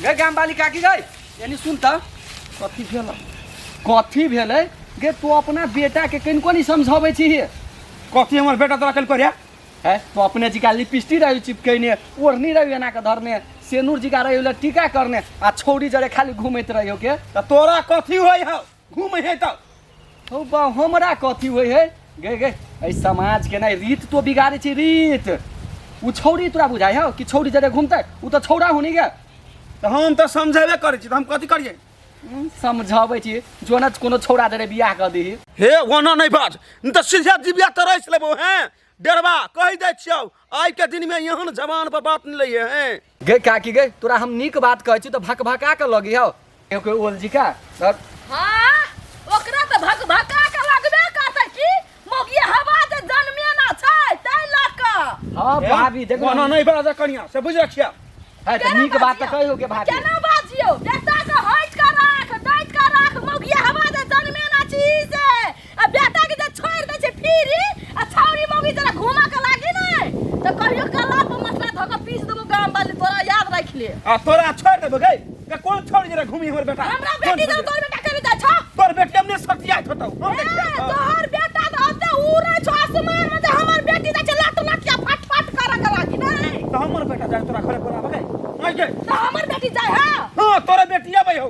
गे गाम वाली काकी गई यानी सुन त कथी भेल कथी भेल गे तू अपना बेटा के कन कोनी समझाबै छी कथी हमर बेटा तोरा कल करे है तो अपने जी का लिपस्टिक रही चिपकने ओढ़नी रही एना के धरने सेनूर जी का रही टीका करने आ छौरी जरे खाली घूमत रहियो के तोरा कथी होय हौ घूम है तब हौ बा हमरा कथी होइ है गे गे एहि समाज के नहि रीत तो बिगाड़े छी रीत ओ छौरी तोरा बुझाइ हौ कि छौरी जरे घूमतै ओ तऽ छौरा हुनी गे तऽ हम तऽ समझेबे करै छी तऽ हम कथी करियै हम्म, समझाबै छी जो ने कोनो छौरा जरे बियाह कऽ दीही हे ओना नहि बाज नहि तऽ सीधे जिबिया तरसि लेबौ हेँ डेरबा कहि दै छियौ आइ के दिन में यहाँ जवान पर बात नहीं लगे हैं गए काकी गए तोरा हम नीक बात कहै छी तऽ भक भका के लगी हौ एगो ओल जी का धर। हाँ ओकरा तऽ भक भका के लगबे करतै की मोगिया हवा जे जन्मे ना छै तै लऽ कऽ हाँ भाभी देखो वहाँ नहीं बड़ा जा कनिया से बुझ रखिया है तऽ नीक बात तऽ कहियो के भाभी केना बाजियो बेटा के हट के राख दैत के राख मोगिया हवा जे जन्मे ना छी से आ बेटा के जे छोड़ दे छै फिरी आ छौरी मौगी जरा घुमा के लागी ना तो कहियो कला पर मसला धो के पीस देबो गांव वाले तोरा याद रख ले आ तोरा छोड़ देबो गई का कौन छोड़ जरा घूमी हमर बेटा हमरा कौन बेटी छोड़ तो तोर बेटा करे जाय छो तोर बेटी हमने सटिया थतो हम ए, देखिया तो तोहर बेटा तो ओते उड़े छो आसमान में जे हमर बेटी जाय छै लट लट के फट फट करे के लागी नहीं हमर बेटा जाए तोरा घरे बोलाबे गई नहीं गई तो हमर बेटी जाय है हां तोरा बेटिया भाई हो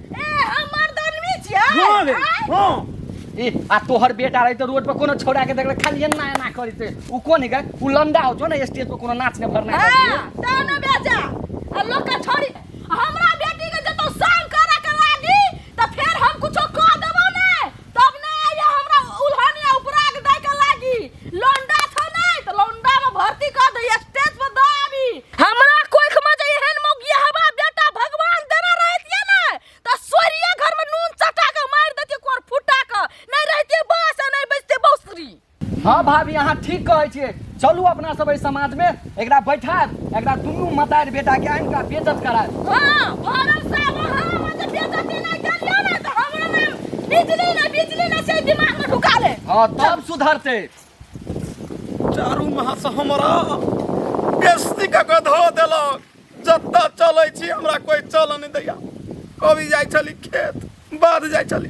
ए हम मर्द आदमी छियै हाँ रे आँय? हाँ ए आ तोहर बेटा रही तो रोड पर कोनो छोड़ा के देखले खाली एना एना करी ते उ कोन है उ लंडा हो जो ना स्टेज पर कोनो नाच ने भरना हाँ, करती तब ने बेचा आ लोग के छोड़ी हमरा बेटी के जतौ संग करे के लागी त फेर हम कुछो कह देबो ने तब ना आइए हमरा उल्हन या उपराग दे के लागी लौंडा छो नहीं तो लौंडा में भर्ती कर दे स्टेज पर दो अभी हमरा कोई खमा जे एहन मौगिया हवा बेटा भगवान देना रहतिए ना तो सोरिया घर में नून चटा के मार देती कोर फुटा के नहीं रहती बास आ नहीं बचती बौसरी हाँ भाभी अहाँ ठीक कहै छियै चलू अपना सब एहि समाजमे एकरा बैठायब एकरा दुनू मतारि बेटाके आनि कऽ बेजत करायब हाँ भरम से अब अहाँ हमरा जे बेइज्जती नहि करियौ ने तऽ हमरा ने बिजली ने बिजली ने से दिमाग में ढुका ले हाँ तब सुधरतै चारू माह से हमरा बेस्ती कऽ के धऽ देलक जतऽ चलै छी हमरा कोइ चलऽ नहि दैया कभी जाइ छली खेत बाद जाइ छली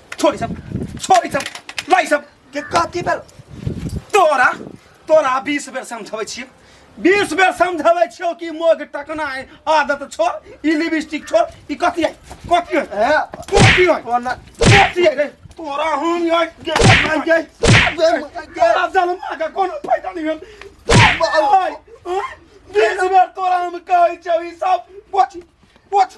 छोड़ी सब छोड़ी सब लाई सब के कथी भेल तोरा तोरा बीस बेर समझबै छियै बीस बेर समझबै छियौ कि मोग टकना है आदत छोड़ ई लिपस्टिक छोड़ ई कथी है कथी है ए, कथी है कोना कथी है रे तोरा हम यहाँ के मार गई तोरा जन्मा के कोनो फायदा नहीं भेल बीस बेर तोरा हम कहै छौ ई सब पोछ पोछ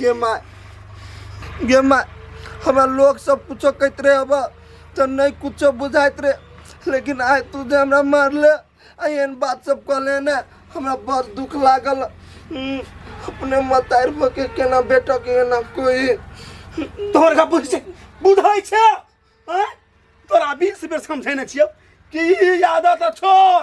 गे माय गे माय हमरा लोग सब कुछो कहते रहे अब तो नहीं कुछो बुझाइत रहे लेकिन आय तू जे हमरा मारले आ एहन बात सब कहले ने हमरा बड़ दुख लागल हम्म, अपने मतार भऽ के केना बेटा के एना कोई तोहर का बुझ छै बुझै छै हैं? तोरा बीस बेर समझेने छियौ कि ई आदत छोड़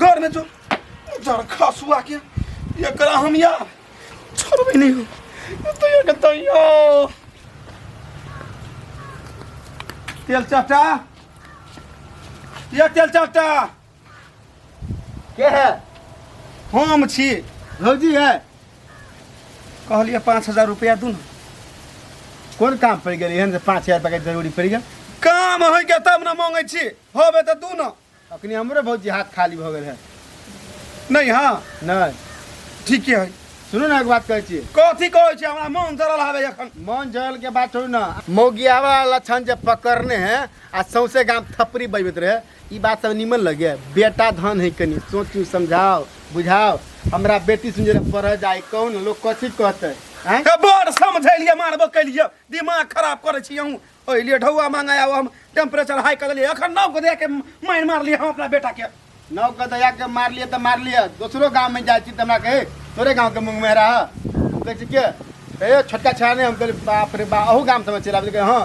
घर में जो जर खसुआ के एकरा हम या छोड़बे नहीं हो ये तो ये कहता यो तेल चाटा ये तेल चाटा के है हम छी भौजी है कहलिए पाँच हजार रुपया दू ना कोन काम पड़ गेल एहन जे पाँच हजार रुपया के जरूरी पड़ गेल काम होइके तब ने मांगै छी होबे तऽ दू ना अखनी हमरे भौजी हाथ खाली भऽ गेल है नहीं हाँ नहीं ठीके है सुनू ना एक बात कहै छियै कथी कहै छै हमरा मन जरल आबे एखन मन जरल के बात छोड़ू ना मौगियावा लक्षण जे पकड़ने है आ सौंसे गाम थपरी बैबत रहे ई बात सब निमन लगे बेटा धन है कनी सोचू समझाओ बुझाओ हमरा बेटी सुन जरा पढ़ जाए कौन लोग कथी कहते हैं हे बड़ समझेलिए मारबो केलिए दिमाग खराब करै छी अहूँ ओहि लिए ढौआ मांगे आउ हम टेम्परेचर हाई कर देलियै एखन नव गोदे के मारि मारलियै हम अपना बेटा के नव गोदया के मार लिए तो मार लिए दोसरो गांव में जाए छी तो हमरा कहे तोरे गांव के मुंह में रहा हम कहे छी के ए छोटका छा ने हम कहे बाप रे बा अहू गांव समझ चला बोले हां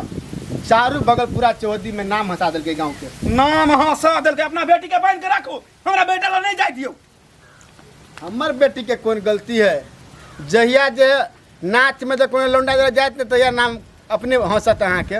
चारू बगल पूरा चौहदी में नाम हंसा देलके गांव के नाम हंसा देलके अपना बेटी के बांध के राखू हमरा बेटा ला नहीं जाए दियो हमर बेटी के कोन गलती है जहिया जे नाच में जे कोनो लौंडा जरा जात ने तहिया नाम अपने हंसत अहाँ के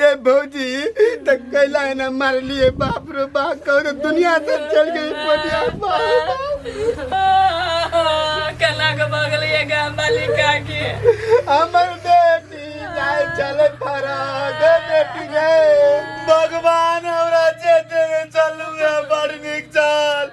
ये भौजी त कैला है ना मार लिए बाप रे बाप कहो दुनिया से चल गई पटिया बाप कला के बगल ये गांव वाली काकी हमर बेटी जाए चले फरा गे बेटी गे भगवान हमरा जे देवे चलू है बड़ निक चल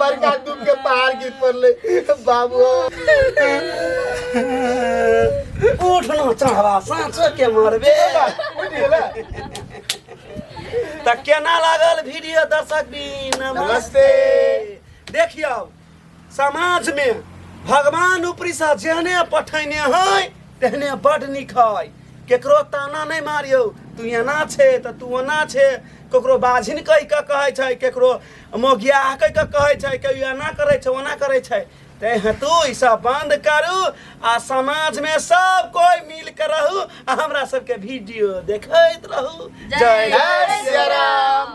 बड़का दुख के पहाड़ गिर पड़ले बाबू उठ ना चढ़वा साँचो के मरबे उठ गेला तऽ केना लागल वीडियो दर्शक भी नमस्ते नमस्ते देखियौ समाज मे भगवान ऊपरी से जेहने पठैने है तेहने बड नीक है केकरो ताना नहि मारियौ तू एना छे तऽ तू ओना छे ककरो बाझिन कहि कऽ कहै छै ककरो मोगिया आकै के कहै छै कि एना करै छै ओना करै छै ते हेतु ई सब बंद करू आ समाज में सब कोई मिल के रहू आ हमरा सबके वीडियो देखैत रहू जय जय सिया राम।